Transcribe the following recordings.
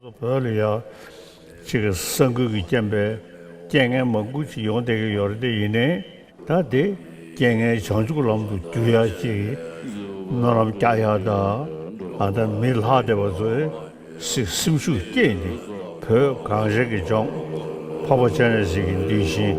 བོད་ལ་ཡག་ཅིག་གི་ས་འགུལ་གྱི་རྐྱེན་པས་རྐྱེན་ངན་མང་པོ་ཅིག་ཡོང་བསྡད་ཀྱི་ཡོད་རེད་ཡིན་ནའི་ད་དེ་རྐྱེན་ངན་བྱང་ཆུབ་ལམ་དུ་བསྒྱུར་ཡག་ཅིག་སྨོན་ལམ་རྒྱག་ཡག་གདའ་ཨ་མདའ་མི་ལྷག་བསྡད་པ་ཚོས་སིག་སེམས་ཤུགས་བསྐྱེད་ནས་བོད་གངས་རི་གི་ལྗོངས་ཕག་པ་ཅན་རེད་ཟེར་གྱི་འདུས་ཤིང།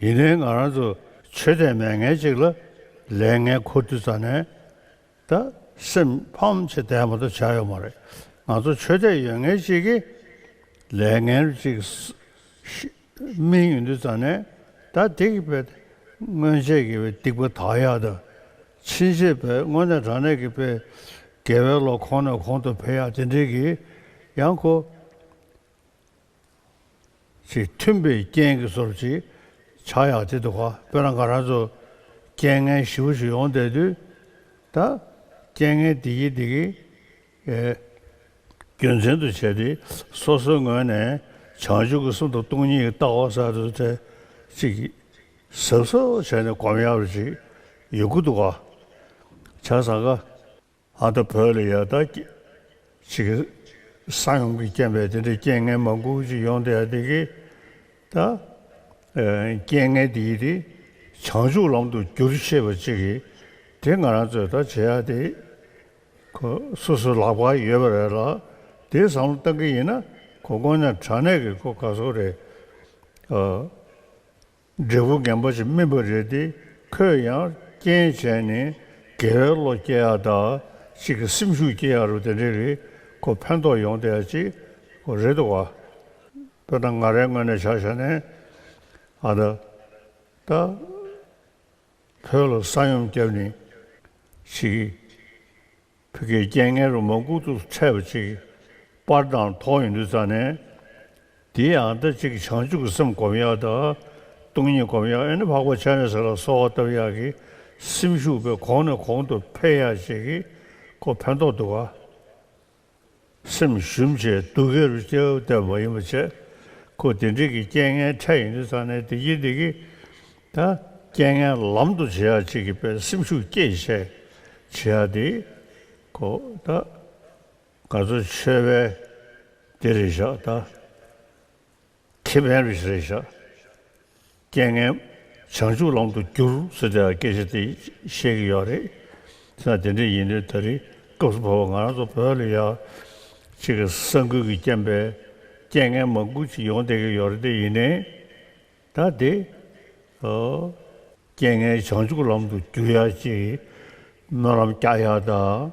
ཡིན་ནའི་ང་རང་ཚོ་ཆོས་དད་མེད་ངན་ཅིག་ལ་ལས་ངན་ཁོ་དུས་ཙ་ནས་ད་སེམས་ཕམ་ཆེ་དད་མ་ཏོ་བྱ་ཡོད་མ་རེད་ང་ཚོ་ཆོས་དད་ཡོད་ངན་ཅིག་གི་ལས་ངན་རུ་ཅིག་སྨིན་ཡོད་དུས་ཙ་ནས་ད་སྡིག་པའི་སྔོན་ཆད་ཀྱི་སྡིག་པ་དག་ཡག་ད་ཕྱིན་ཆད་པའི་སྔོན་ནས་དྲང་གནས་ཀྱི་པའི་དགེ་བའི་བློ་ཁོང་ནས་ཁོང་དུ་འཕེལ་ཡག་དེ་འདྲིའི་གི་ཡང་ཁོ་ཚིག་མཐུན་པའི་རྐྱེན་གྱིས་སོར་གཅིག་ཆག་ཡག་དེ་འདུག་ག་དཔེར་ན་ང་རང་ཚོ་རྐྱེན་ངན་བཞི་བོ་ཞིག་ཡོང་བསྡད་དུས་ད་རྐྱེན་ངན་བདེ་སྐྱིད་བདེ་སྐྱིད་རྒྱུ་མཚན་དུ་བྱས་ཏེ་སོ་སོའི་ངོས་ནས་བྱང་ཆུབ་ཀྱི་གསུང་དང་སྟོང་ཉིད་ཀྱི་ལྟ་བ་གསར་དུ་ཐད་ཅིག་ཟབ་ཟོབ་བྱས་ནས་གོམས་ཡག་རེ་བྱེད་ཡོད་དགོས་འདུག་ག་བྱ་བཟང་ག། ཨ་མདོ་བོད་ལ་ཡག་ཐག་ཅིག་གི། སང་ཡོང་གི་རྐྱེན་པས་དེ་འདྲའི་རྐྱེན་ངན་མ་འགུག་ཅིག་ཡོང་དེ་ཡ་དེ་གི། ད། རྐྱེན་ངན་དེ་ཡིས་དེ། བྱང་ཆུབ་ལམ་དུ་བསྒྱུར་ཤེས་པ་ཅིག་གི། དེ་ང་རང་ཚོས་ད་བྱེད་ཡ་དེ། ཁོ་སོ་སོ་ལག་པ་ཡོད་པ་རེད་ལ། དེ་བསམ་བློ་བཏང་གི་ཡིན་ན། ཁོ་དཀོན་མྱང་དྲག་གནས་ཀྱི་ཁོ་ག་ཟོ་རེད། འབྲས་བུ་རྒན་པོ་ཞིག་སྨིན་པ་རེད་དེ་ཁོས་ཡང་རྐྱེན་བྱས་ནས་དགེ་བའི་བློ་སྐྱེ་ཡག་དག་ཅིག་གི་སེམས་ཤུགས་སྐྱེ་ཡག་རུ་དེ་འདྲས་རེད་ཁོ་ཕན་ཐོག་ཡོང་དེ་ཡག་ཅིག་གོ་རེད་དོ་བ། དཔེར་ན་ང་རའི་སྔོན་ནས་ཆགས་ཞག་ནས་ཨ་ད་ད་བོད་ལ་ས་ཡོམ་བསྐྱབས་ནས་ཆིག། བུ་གའི་རྐྱེན་ངན་རུ་མ་ལྐུག་ཏུ་འཕྲད་པ་ཅིག་པར་དང་ཐོག་ཡིན་དུས་རྩ་ནས། འདི་ཡང་ལྟ་ཅིག་བྱང་ཆུབ་ཀྱི་སེམས་སྒོམ་ཡག་དང། སྟོང་ཉིད་སྒོམ་ཡག་ཨེ་ན་འཕགས་པ་ཕྱག་ལེན་ཟེར་ལ་གསོལ་བ་བཏབ་ཡག་གི་སེམས་ཤུགས་པས་གོང་ནས་གོང་དུ་འཕེལ་ཡག་བྱེད་ཀྱི་ཁོ་ཕན་ཐོགས་འདུག་ག། སེམས་ཞུམ་བྱེད་སྡུག་སྐད་རུ་སྐྱེ་བོ་བསྟན་པ་ཡིན་པར་བྱས། ཁོ་དེ་འབྲེལ་གྱི་རྐྱེན་ངན་ཕྲད་ཡོང་དུས་ཚང་ནས་བདེ་སྐྱིད་བདེ་སྐྱིད། ད་རྐྱེན་ངན་ལམ་དུ་བྱེད་ཡག་ཅིག་གི་པའི་སེམས་ཤུགས་སྐྱེད་བྱེད་བྱེད་ཡག་དེ་ཁོ། ད་ག་ཚོད་ཆོས་པས་དེ་རེད་བཞག་ད། ཐེ་བན་རེ་ཞིག་རེ་བཞག། རྐྱེན་ངན། བྱང་ཆུབ་ལམ་དུ་བསྒྱུར་ཟེར་དེ་ལ་སྐད་ཆ་དེ་བཤད་ཀྱི་ཡོད་རེད། ད་དེ་འདྲ་ཡིན་དུས་ད་རེས་སྐབས་སུ་བབས་པ་ང་རང་ཚོ་བོད་ལ་ཡག་ཅིག་གི་ས་འགུལ་གྱི་རྐྱེན་པས་རྐྱེན་ངན་མང་པོ་ཅིག་ཡོང་བསྡད་ཀྱི་ཡོད་རེད་དེ་ཡིན་ནའི། ད་དེ། རྐྱེན་ངན་བྱང་ཆུབ་ལམ་དུ་བསྒྱུར་ཡག་ཅིག་སྨོན་ལམ་རྒྱག་ཡག་དང།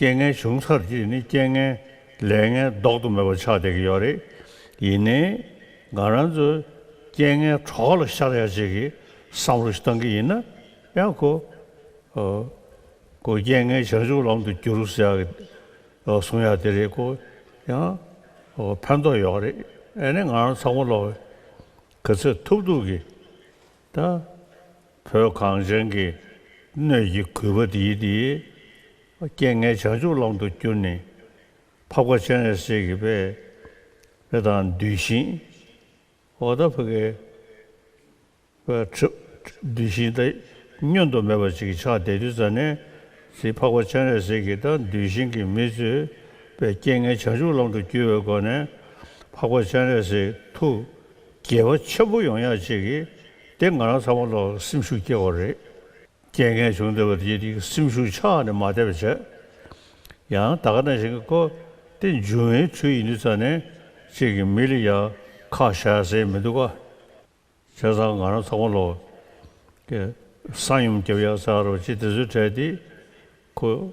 རྐྱེན་ངན་བྱུང་ཚར་རྗེས་ནི་རྐྱེན་ངན་ལས་ངན་ལྡོག་ཏུ་མེད་པ་ཆགས་བསྡད་ཀྱི་ཡོད་རེད། ཡིན་ནའི། ང་རང་ཚོས་རྐྱེན་ངན་གྲོགས་ལ་ཤར་ཡ་བྱེད་ཀྱི་བསམ་བློ་ཞིག་བཏང་གི་ཡིན་ན་ཡང་གོ། ཨོ། གོ། རྐྱེན་ངན་བྱང་ཆུབ་ལམ་དུ་བསྒྱུར་ཟེར་ཡ་གི། ཨོ་གསུང་ཡ་དེ་རེད་གོ། ཡང། ཨོ་ཕན་ཐོགས་ཡོད་རེད། ཨེ་ནས་ང་རང་ཚང་མ་ལོག་གི། ག་ཚོད་ཐུབ་ཐུབ་ཀྱི། ད་བོད་གངས་ཅན་གྱི་སྣོད་ཀྱི་གུས་པ་འདིའི་འདི་སྐད་ངས་བྱང་ཆུབ་ལམ་དུ་བསྐྱུར་ནས་ཕབ་ཁ་ཆེན་རེ་བསྲེགས་གི་པས་རེ་དང་འདུས་ཤིང་འོ་ད་བོད་གི་པས་འདུས་ཤིང་ད་བསྙོན་དུ་མེད་པ་ཅིག་གི་ཆགས་བསྡད་དུས་ཙཱ་ནས་ཚིག་ཕག་པ་ཆེན་རེ་བསྲེགས་གི་ད་འདུས་ཤིང་གི་མི་ཚོས་པས་སྐད་ངས་བྱང་ཆུབ་ལམ་དུ་བསྐྱུར་བའི་སྒོ་ནས་ཕག་པ་ཆེན་རེ་བསྲེགས་ཐུགས། དགེ་བ་ཆེན་པོ་ཡོང་ཡག་ཅིག་གིས་དེ་ང་རང་ཚང་མ་ལོག་ལ་སེམས་ཤུགས་སྐྱེ་བ་རེད། རྐྱེན་ངན་བྱུང་བསྡད་པ་དེ་དེའི་སེམས་ཤུགས་ཆགས་ནས་མ་བསྡད་པ་བྱས། ཡང་ད་ག་ནང་བཞིན་གོ། དེ་འཇུ་བའི་ཁྲུས་ཡིན་དུས་ཙང་ནས་ཅིག་གིས་མི་ལ་ཡང་ཁ་བཞག་ཟེར་མི་འདུག་ག། བྱས་ཙང་ང་རང་ཚང་མ་ལོག་གི་སང་ཡུམ་རྒྱབ་ཡག་ཚར་རོ་ཅིག་དེ་ཚོའི་གྲས་དེ་གོ།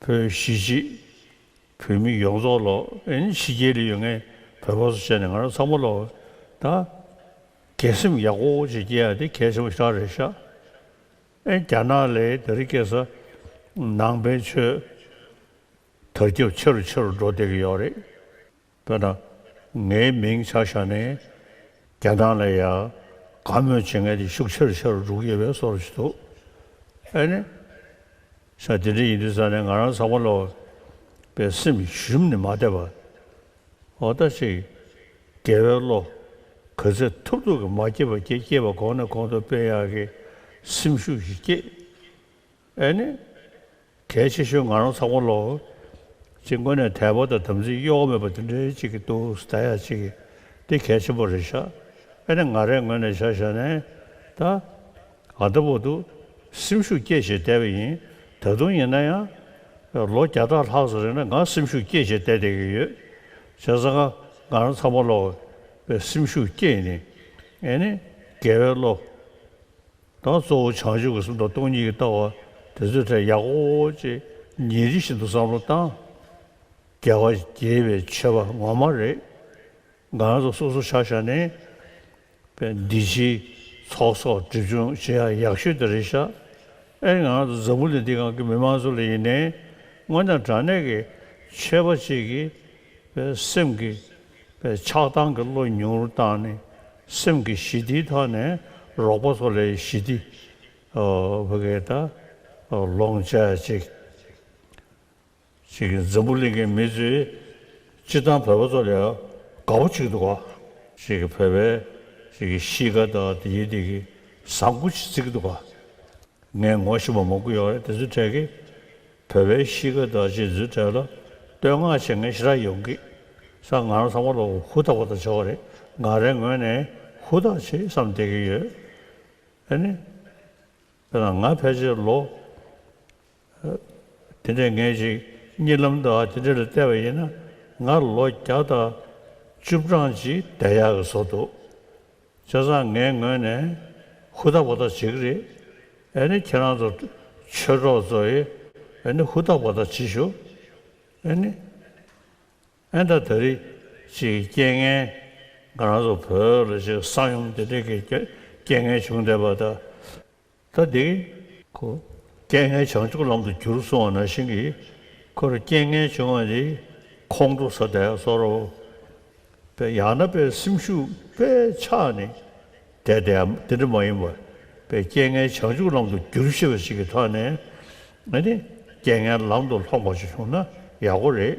བོད་གཞིས་བྱེས་བོད་མི་ཡོངས་རྫོགས་ལོ་ཨེན་ཕྱི་རྒྱལ་ལ་ཡོད་ངེས་བོད་བོད་སོགས་བྱས་ནས་ང་རང་ཚང་མ་ལོ་ཨེན་དགེ་སེམས་ཡག་པོ་བོ་ཅིག་སྐྱེ་ཡ་དེ་གལ་ཆེན་པོ་ཞེ་དྲག་རེད་ཤག་ཨེན་རྒྱ་ནག་ལས་དེ་རིགས་སྐྱེ་ས་ནང་བན་ཆོས་དར་ཁྱབ་ཆེ་རུ་ཆེ་རུ་འགྲོ་བསྡད་ཀྱི་ཡོག་རེད། དཔེར་ན། ངའི་མིང་ཆགས་ཤར་ནས་རྒྱ་ནག་ལ་ཡ་ག་མོས་བྱེད་མཁན་དེ་ཤུགས་ཆེར་ཆེར་འགྲོ་གི་ཡོད་པའི་སོར་བཞི་འདུག་ཨེ་ནི། ཤ་དེ་འདྲ་ཡིན་དུས་ས་ནས་ང་རང་ཚགས་པར་ལོག་པའི་སེམས་ཞུམ་ནི་མ་བསྡད་པ། འོ་ད་ཅིག་རྒྱལ་བའི་བློ་ག་ཚད་ཐུབ་ཐུབ་ཀྱིས་མ་སྐྱེས་པ་སྐྱེས་སྐྱེས་པ་གོང་ནས་གོང་དུ་སྤེལ་ཡག་གི་སེམས་ཤུགས་ཤིག་སྐྱེས། ཨེ་ནི། གལ་ཆེ་ཤོས་ང་རང་ཚ་གོ་ལོ། ཅིག་མགོ་ནས་དལ་པོ་དང་དམ་ཚིག་གཡོ་བ་མེད་པ་འདི་འདྲའི་ཅིག་གི་ཏུ་ས་ད་ཡ་ཅིག་གི་འདི་གལ་ཆེན་པོ་རེད་ཤག་ཨེ་ནི་ང་རས་ངོས་ནས་བྱ་བྱ་ནས་ད། ང་ད་བོ་ཏུ། སེམས་ཤུགས་སྐྱེད་བྱེད་བསྡད་པ་ཡིན་ད་དུང་ཡིན་ན་ཡང། ལོ་བརྒྱ་ཕྲག་ལྷག་ཙམ་རིང་ལ་ང་སེམས་ཤུགས་སྐྱེད་བྱེད་བསྡད་བསྡད་ཀྱི་ཡོད། བྱས་ཙང་ང་རང་ཚ་མོ་ལོ། བའི་སེམས་ཤུགས་སྐྱེད་ནི། ཨེ་ནི། རྒས་བའི་བློ། དང་གཙོ་བོ་བྱང་ཆུབ་ཀྱི་སེམས་དང་སྟོང་ཉིད་ཀྱི་ལྟ་བ་དེ་ཚོའི་གྲས་ཡག་པོ་བོ་ཅེས་ཉིན་རེ་བཞིན་དུ་བསམ་བློ་བཏང། རྒྱལ་བ་དགྱེས་པའི་མཆོད་པ་ངོ་མ་རེད། འགའ་ཚོ་སོ་སོ་ཆགས་ཞག་ནས་པས་འདི་ཕྱིའི་ཚོགས་གསོག་སྒྲིབ་སྦྱོང་བྱེད་ཡག་ཡག་ཤོས་དེ་རེད་ཤག་ཨེ་འང་ཚོ་འཛམ་བུ་ལི་འདི་གང་གི་མི་མང་ཚོ་ལ་ཡིན་ནའི་སྔོན་དང་དྲང་གནས་ཀྱི་ཆོས་པ་ཅིག་གི་པའི་སེམས་ཀྱི་པའི་ཆགས་སྡང་གི་བློ་ཉུང་རུ་བཏང་ནས་སེམས་ཀྱི་ཞི་བདེའི་ཐོག་ནས་རོགས་པ་ཚོ་ལས་ཞི་བདེ་བྷི་གྷེ་ད་ལོང་བྱས་ཅིག། འཛམ་བུ་གླིང་གི་མི་ཚོས་སྤྱི་བཏང་བོད་པ་ཚོ་ལས་དགའ་བོ་གཅིག་འདུག་ག། བོད་པའི་གཤིས་ཀ་དང་ཡིད་བདེ་གི་བཟང་སྐུ་ཆེ་གཅིག་འདུག་ག། ངས་ངོ་ཤེས་པ་མང་པོ་ཡོད་རེད་དེ་ཚོའི་གྲས་ཀྱིས་བོད་པའི་གཤིས་ཀ་དང་སྤྱོད་ཚུལ་གྲས་ལ་བསྟོད་བསྔགས་བྱེད་མཁན་ཞེ་དྲག་ཡོང་གི་ས་ང་རང་ཚང་མ་ལོ་ཧུ་ཐག་པ་དང་བྱ་བ་རེད་ང་རའི་ངོས་ནས་ཧུ་ཐག་ཆེ་བསམ་བསྡད་ཀྱི་ཡོད་ཨེ་ནི། དེ་ན་ང་ཕལ་ཆེར་ལོ་དེ་འདྲའི་ངེས་ཅིག་གཉིད་ལམ་དུ་ཨ་དེ་འདྲ་ལ་བལྟས་པ་ཡིན་ན་ང་ལོ་བརྒྱ་དང་བཅུ་བགྲང་ཅིག་བསྡད་ཡག་གི་བཟོ་འདུག་བཙན་བཟང་ངའི་ངོས་ནས་ཧུར་ཐག་པོ་ཐག་བྱེད་ཀྱི་རེད། ཨེ་ནི་ཁྱེད་རང་ཚོ་ཆོས་གྲོགས་ཚོ་ཡིས་ཨེ་ནི་ཧུར་ཐག་པོ་ཐག་བྱེད་ཞུགས། ཨེ་ནི། ཨེ་ད་ད་རིགས་ཅིག་གི་རྐྱེན་ངན་ང་རང་ཚོ་བོད་ལ་ཅིག་གསང་ཡུམ་འདི་འདྲིག་གི་རྐྱེན་ངན་བྱུང་བསྡད་པ་ད། ད་འདི་ཁོ་རྐྱེན་ངན་བྱང་ཆུབ་ལམ་དུ་གྱུར་སོང་བ་ན་བཞིན་གྱི་ཁོ་རུ་རྐྱེན་ངན་བྱུང་བ་ནི་ཁོང་ཁྲོ་ཟ་དད་སོགས་རོ། པའི་ཡང་ན་པའི་སེམས་ཤུགས་པས་ཆགས་ནས་དད་དེ་འམ་དེ་འདྲ་མ་ཡིན་པ། པའི་རྐྱེན་ངན་བྱང་ཆུབ་ལམ་དུ་གྱུར་ཤེས་པ་ཞིག་གིས་ཐོག་ནས་ནི་རྐྱེན་ངན་ལམ་དུ་ལྷོངས་པ་ཞིག་བྱུང་ན་ཡག་པོ་རེད།